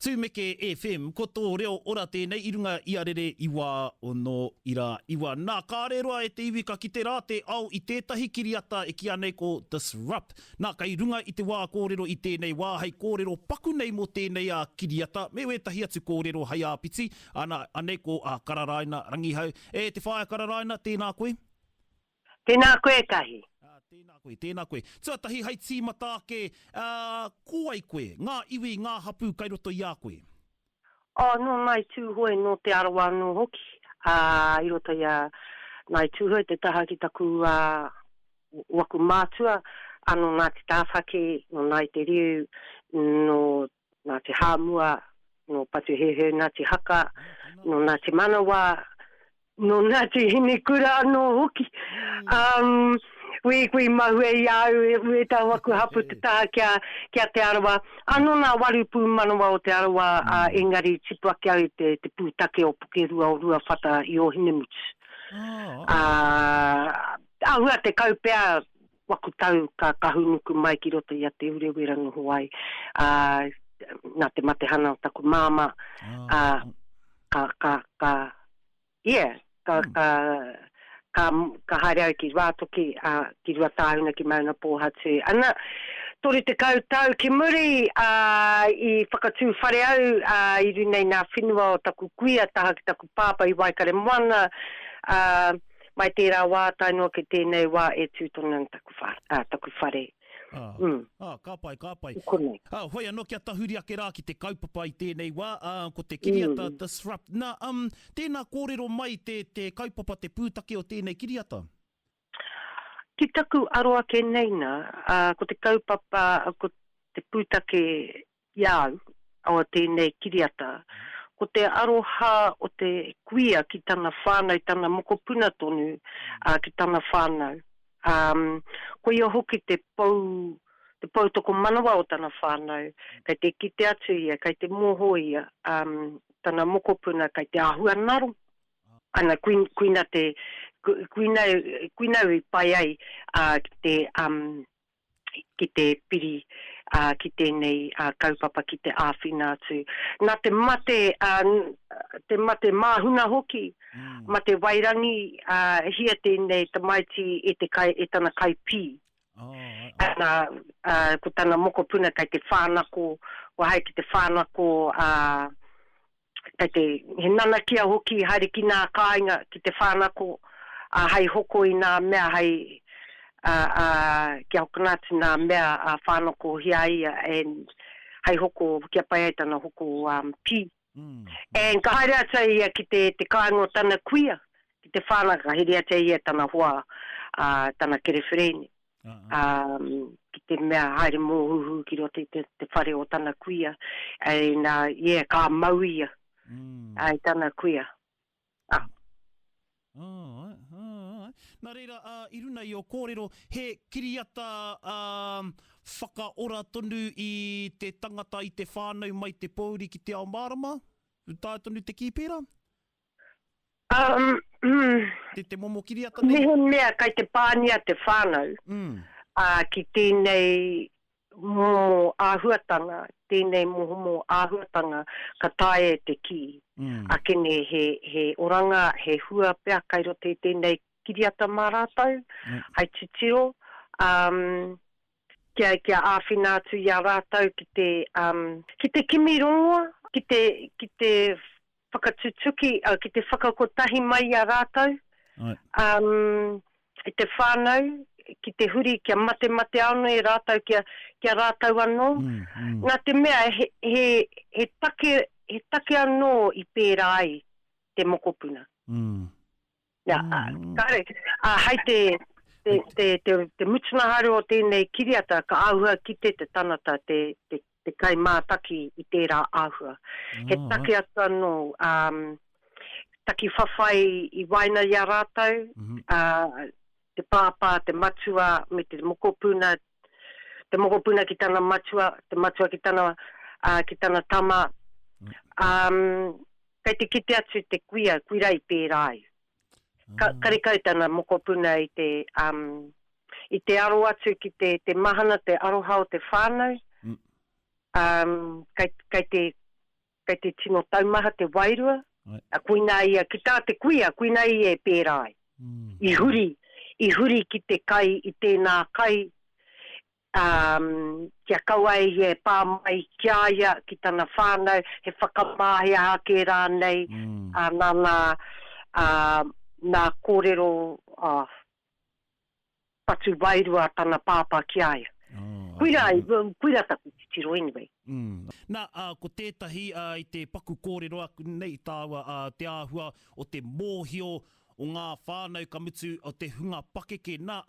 Tumeke FM, ko tō reo ora tēnei i runga i a rere i wā o nō ira iwa. Nā, kāre roa e te iwi ka kite rā te ao i tētahi kiriata e kīa nei ko Disrupt. Nā, kei runga i te wā kōrero i tēnei wā hei kōrero paku nei mō tēnei a kiriata me wētahi atu kōrero hei āpiti, ana, anei ko a Kararaina Rangihau. E te Whaea Kararaina, tēnā koe. Tēnā koe ētahi. Ā, tēnā koe, tēnā koe. Tuatahi hai tīmata ake, ā, ko wai koe? Ngā iwi, ngā hapū kai roto i a koe? Ā, nō Ngāi Tūhoe, nō Te Arawa anō hoki, ā, i roto i a Ngāi Tūhoe te taha ki taku, ā, waku mātua, ā, nō Ngāti Tāwhaki, nō Ngāi Te Riu, nō Ngāti Hāmua, nō Patuheuheu, Ngāti Haka, nō Ngāti Manawa, nō Ngāti Hinikura anō hoki. Wīkui mahue i a au e rua i taua aku hapū te taha ki a Te Arawa. Anō nā waru pūmanawa o Te Arawa, ā, engari tipu ake au i te pūtake o Pukerua o Ruawhata i Ōhinemutu. Āhua tekau pea. Waku tau ka kahunuku mai ki roto i a Te Urewera noho ai, ā, nā te matehana o taku māmā, ā, ka, ka, ka, ia, ka, ka, ka, ka haere au ki Ruātoki, ā, ki Ruatāhuna, ki Maungapōhatu. Ana, toru tekau tau ki muri, ā, i whakatū whare au, ā, i runga i ngā whenua o taku kuia taha ki taku pāpā i Waikaremoana, ā, Mai tērā wā tae noa ki tēnei wā e tū tonu ana taku whare, ā, taku whare. Ā, Mm. ā, ka pai, ka pai. I konei. Ā, whai anō kia tahuri ake rā ki te kaupapa i tēnei wā, ā, ko te kiriata Mm. Disrupt. Nā, um, tēnā kōrero mai te, te kaupapa, te pūtake o tēnei kiriata? Ki taku aro ake nei nā, ā, ko te kaupapa, ko te pūtake Ki a au, o tēnei kiriata, ko te aroha o te kuia ki tana whānau, tana mokopuna tonu, ā, ki tana whānau. Ā, koia hoki te pou, te pou tokomanawa o tana whānau, kei te kite atu ia, kei te moho ia, ā, tana mokopuna kei te āhua naro. Ana, kui, kuina te, kui, kuina, kuina i pai ai, ā, ki te, ā, ki te piri ki tēnei kaupapa ki te āwhina atu. Nā te mate, te mate māhuna hoki, mate wairangi, hia tēnei tamaiti e te kai, e tana kai pī. Ana, ko tana mokopuna kei te whānako, kua hae ki te whānako, kei te, he nanakia hoki haere ki nā kāinga, ki te whānako, ā, hai hoko i nā mea, hai, ā, ā, kia hokona atu nā mea, ā, whānakohia ai ia, and, hai hoko, kia pai ai tana hoko, um, pī. And ka haere atu ai ia ki te, te kāinga o tana kuia, ki te whānaka, ka hereatia ia e tana hoa, ā, tana kereferēne. um, ki te mea haere mōhuhu ki roto i te, te whare o tana kuia, ai nā, yeah, ka mau ia, mm. ai tana kuia. Ah. Oh, oh, Nā reira, uh, i runa i o kōrero, he kiriata uh, whakaora tonu i te tangata, i te whānau mai te pōuri ki te ao mārama? Tāia tonu te kī pērā? Umm. Te te momo kiriata nei? Mehemea kai te pānia te whānau, ā, ki tēnei momo āhuatanga, tēnei momo āhuatanga ka taea e te kī, ake nei he, he oranga, he hua pea kai roto i tēnei kiriata mā rātou, hai titiro, umm, kia, kia āwhina atu i a rātou ki te, umm, ki te kimi rongoa, ki te, ki te Whakatutuki, ki te whakakotahi mai i a rātou, i te whānau, ki te huri, kia matematea anō e rātou, kia, kia rātou anō. Nā te mea, he, he, he take, he take anō i pērā ai te mokopuna. Ia, kare, hai te, te, te, te, te mutunga haere o tēnei kiriata ka āhua kite te tangata, te, te, te kai mātaki i tērā āhua. Oh, He take right. atu anō, um, taki whawhai i waena i a rātou, mm -hmm. uh, te pāpā, te matua, me te mokopuna, te mokopuna ki tana matua, te matua ki tana, uh, ki tana tama. Um, kei te kite atu te kuia, kuira i pērā ai. Ka, mm. karekau tana mokopuna i te, um, i te aro atu ki te, te mahana, te aroha o te whānau. Mm. Um, kei, kei te Kei te tino taumaha te wairua, koinā ia, ki tā te kuia, koinā ia e pērā ai. I huri, i huri ki te kai, i tēnā kai, ā, kia kaua e ia e pā mai ki a ia, ki tana whānau, he whakamāhia ake rānei, ā, nā ngā, ā, nā kōrero, ā. patu wairua tana pāpā ki a ia. Koirā, koirā taku titiro anyway. Na, ko tētahi i te paku kōrero aku nei tāua te āhua o te mōhio o ngā whānau ka mutu o te hunga pakeke. Na,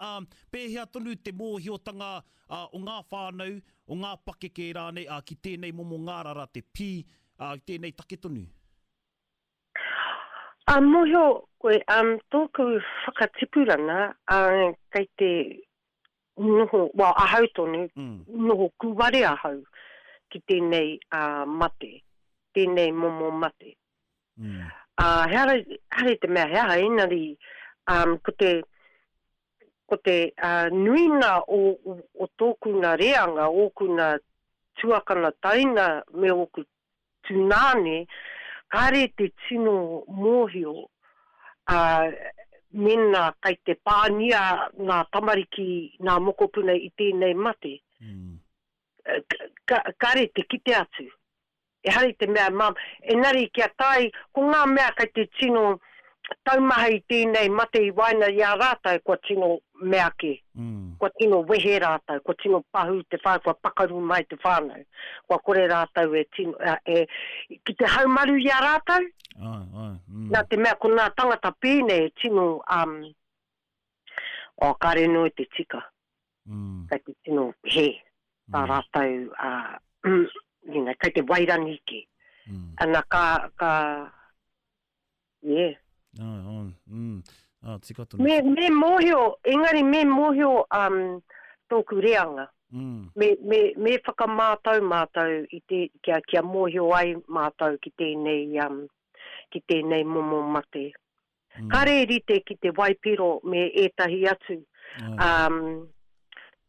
pēhea tonu te mōhiotanga o ngā whānau, o ngā pakeke rānei ki tēnei momo ngārara te pī, tēnei take tonu? A mohio koe am toku whakatipuranga a kei te noho well ahau tonu noho kuware ahau ki tenei a mate tenei momo mate a he aha hare te mea he aha engari am ko te ko te a nuinga o o toku nga reanga oku nga tuakana taina me oku Tūnāne, kāre te tino mōhio, ā, mēnā kai te pāngia ngā tamariki nā mokopuna i tēnei mate, ka, kāre te kite atu. Ehara i te mea, engari kia tae, ko ngā mea kai te tino taumaha i tēnei mate i waenga i a rātou kua tino meake, kua tino wehe rātou, kua tino pahū te whānau, kua pakaru mai te whānau, kua kore rātou e tino, e, ki te haumaru i a rātou, ai, ai, mm. nā te mea ko nā tangata pēnei e tino, um, o oh, kāre noe te tika, mm. kei te tino he, tā mm. rātou, uh, you know, kei te wairangi ki, mm. ana ka, ka, Yeah. Ai, ai, mm. Ah, tika tonu. Me, me mōhio, engari me mōhio um, tōku reanga. Mm. Me, me, me whakamātau mātou i te, kia, kia mōhio ai mātou ki tēnei, um, ki tēnei momo mate. Mm. Kare rite ki te waipiro me ētahi atu. Ai. Um,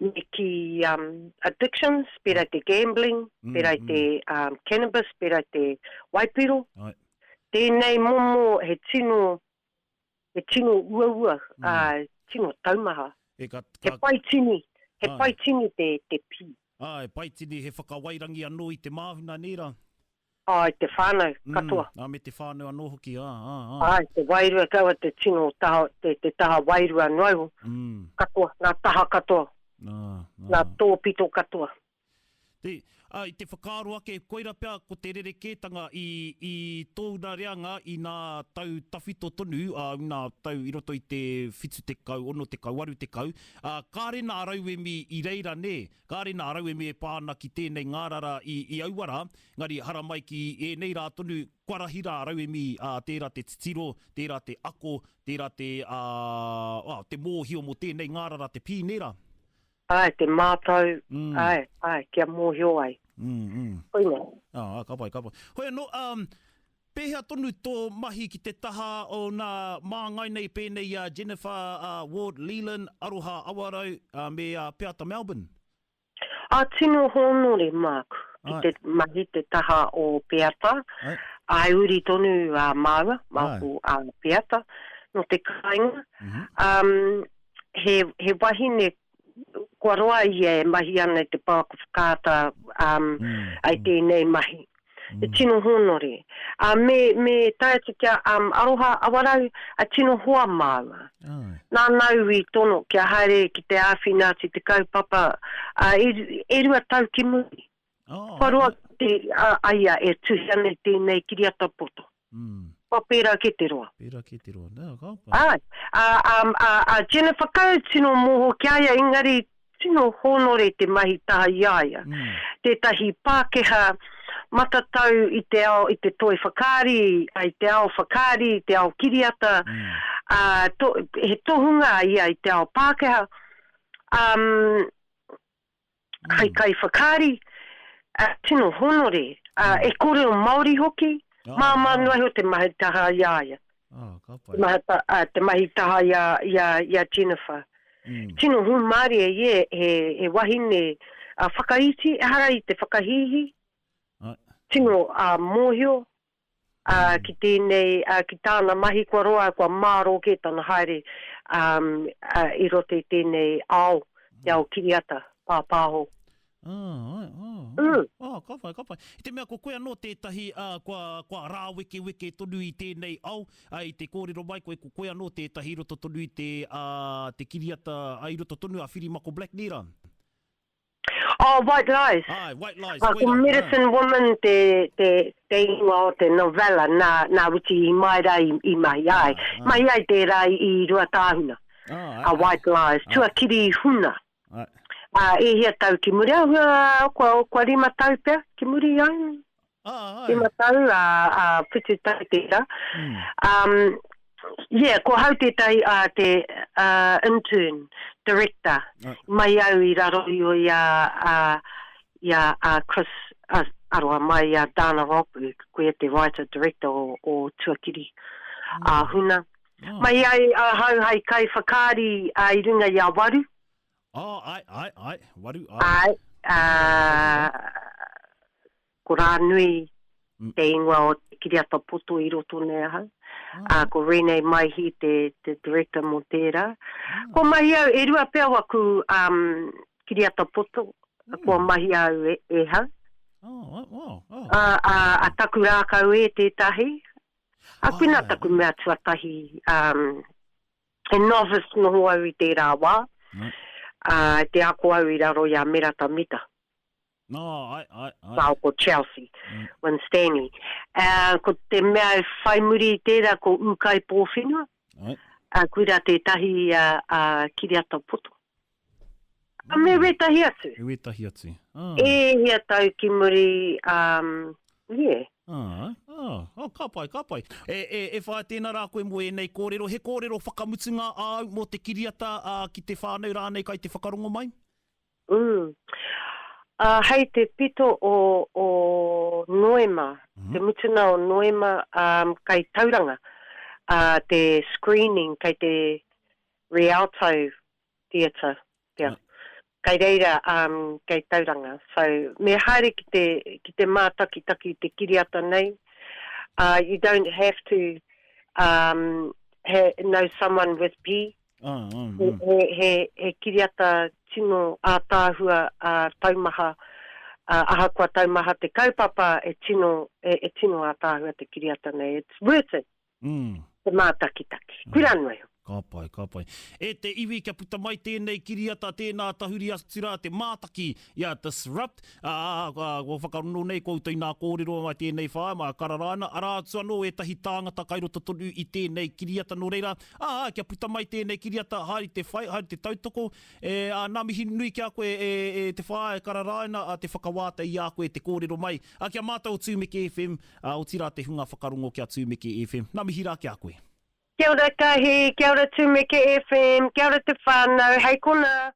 me ki um, addictions, pera te gambling, mm, pera mm. te um, cannabis, pera te waipiro. Ai. Tēnei momo he tino, he tino uaua, ā, tino taumaha. E ka, ka. He paitini, he Āe. paitini te, te pī. Āe, paitini, he whakawairangi anō i te māhuna, nē rā? Āe, te whānau katoa. Mm, ā, me te whānau anō hoki, ā, ā, ā. Āe, te wairua, kaua te tino taha, te, te taha wairua noa iho. Mm. Katoa, ngā taha katoa. Ā, ā. Ngā tōpito katoa. Te, ā, i te whakaaro ake, koirā pea ko te rerekētanga i, i tōna reanga i nā tau tawhito tonu, ā, nā tau i roto i te whitu tekau, ono tekau, waru tekau, ā, kāre nā rauemi i reira, nē, kāre nā rauemi e pā ana ki tēnei ngārara i, i aua rā, engari haramai ki ēnei rā tonu, kua rahi rā rauemi, ā, tērā te titiro, tērā te ako, tērā te, ā, ā, te mōhio mō tēnei ngārara te pī, nē rā. Ae, te mātau, ae, ae, kia mōhio ai. Koina. Aa, ka pai, ka pai. Hoi ano, um, pehea tonu to mahi ki te taha o na māngai nei pēnei i a Jennifer uh, Ward Leland, Aroha Awarau, uh, me a Peata Melbourne? A tino hōnore māku ki Ae. te mahi te taha o Peata. Ae. Ae uri tonu a māua, māku a Peata, no te kāinga. Um, he, he wahine kua roa ia e mahi ana i te pouako whakaata um, mm. ai tēnei mahi. Mm. E tino hōnore. A uh, me, me tae atu kia um, aroha awarau a tino hoa māua. Oh. Nā nau i tono kia haere ki te āwhina atu te kaupapa uh, e, e rua tau ki muri. Wharoa te a ia e tuhia nei tēnei kiriata poto. Kua pērā kē te roa. Pērā kē te roa. Nā, ka pai. Āe. Ā, ā, ā, ā Jennifer Coe, tino moho ki a ia, engari tino hōnore te mahi taha i a ia. Tētahi Pākehā matatau i te ao, i te toi whakaari, ā, i te ao whakaari, i te ao kiriata, ā, to, he tohunga a ia i te ao Pākehā, ā, hei kaiwhakaari, ā, tino hōnore, ā, e kōrero Māori hoki, māmā noa iho te mahi taha i a ia. Te mahi, ā, te mahi taha i a, i a, i a Jennifer. Tino hūmārie ia he, he wahine, ā, whakaiti, ehara i te whakahīhī, tino, ā, mōhio, ā, ki tēnei, ā, ki tāna mahi kua roa, kua mārō kē tana haere, ā, ā, i roto i tēnei ao, te ao kiriata, pāpāho. Ā, āe, ā, ā, Mm. ā, ka whai, ka whai. I te mea ko koe anō tētahi, ā, kua, kua rāwekeweke tonu i tēnei ao, ā, i te kōrero mai koe, ko koe anō tētahi i roto tonu i te, ā, te kiriata, ā, i roto tonu a Whirimako Blacknera. Oh, White Lies. Aye, White Lies, koirā. Ko Medicine Woman te, te, te ingoa o te novella, nā, nā Witi Imaera i, i mahi ai. Ah, ah. Mahi ai tērā i, i Ruatāhuna. Ah, aye, a White Lies, tuakiri i Huna. Aye. Ah, e hia tau ki muri, ah, kua, kua rima tau pea ki muri, aye. He matau a Putu Tau tera. Yeah, ko hau tetahi a te intern director mai au i raro io i a Chris, aroha mai i a Dana Ropu, koia te writer director o Tuakiri a Huna. Mai ai a hau hai kai whakaari i runga i a Waru. Ā, āe, āe, āe, waru, āe. Āe, ā, ko Rānui te ingoa o te kiriata poto i roto nei ahau, ā, ko Renee Maihi te Director mō tērā. Kua mahi au, e rua pea waku kiriata poto kua mahi au e hau. Ā, a taku rākau e tētahi, ā, koinā taku mea tuatahi, He novice noho au i tērā wā, ā, te ako au i raro i a Merata Mita. Nā, ae, ae, ae. Māo ko Chelsea. Winstanley. Ā, ko te mea e whai muri i tērā ko Ūkaipōwhenua. Ae. Ā, koirā tētahi a, a Kiriata Poto. A me wētahi atu. Me wētahi atu. Ah. E hia tau ki muri, um, yeah. Ah, ah, oh, ka pai, ka pai. E, e, e whaea tēnā rā koe mō ēnei kōrero. He kōrero whakamutunga āu mō te kiriata ā, ki te whānau rānei kai te whakarongo mai? Mm. Ā, hei te pito o, o Noema, te mutunga o Noema, um, kai Tauranga, ā, te screening kei te Rialto theatre, pea. Kai reira, um, kei Tauranga. So, me haere ki te, ki te mātakitaki i te kiriata nei, uh, you don't have to, um, he, know someone with P. Ah, ah, He, ah. he, he, he kiriata tino ātaahua, uh, taumaha, uh, ahakoa taumaha te kaupapa, e tino, e, e tino ātaahua te kiriata nei. It's worth it. te mātakitaki, kura noa iho. Ka pai, ka pai. E te iwi kia puta mai tēnei kiriata, tēnā tahuri atu rā te mātaki i a Disrupt, ā, kua whakarongo nei koutou inā kōrero mai tēnei whāia, mai a Kararaina, arā atu anō ētahi tāngata kai roto tonu i tēnei kiriata, nō reira, ā, kia puta mai tēnei kiriata, haere te whai, haere te tautoko, e, ā, ngā mihi nui ki a koe e, e, e te whāia, e Kararaina, ā, te whakawātea i a koe te kōrero mai A kia mātau Tumeke FM, a otira te hunga whakarongo kia Tumeke FM. Na mihi ra kia koe. Kia ora Kahi, kia ora Tumeke FM, kia ora te whanau, hei kona.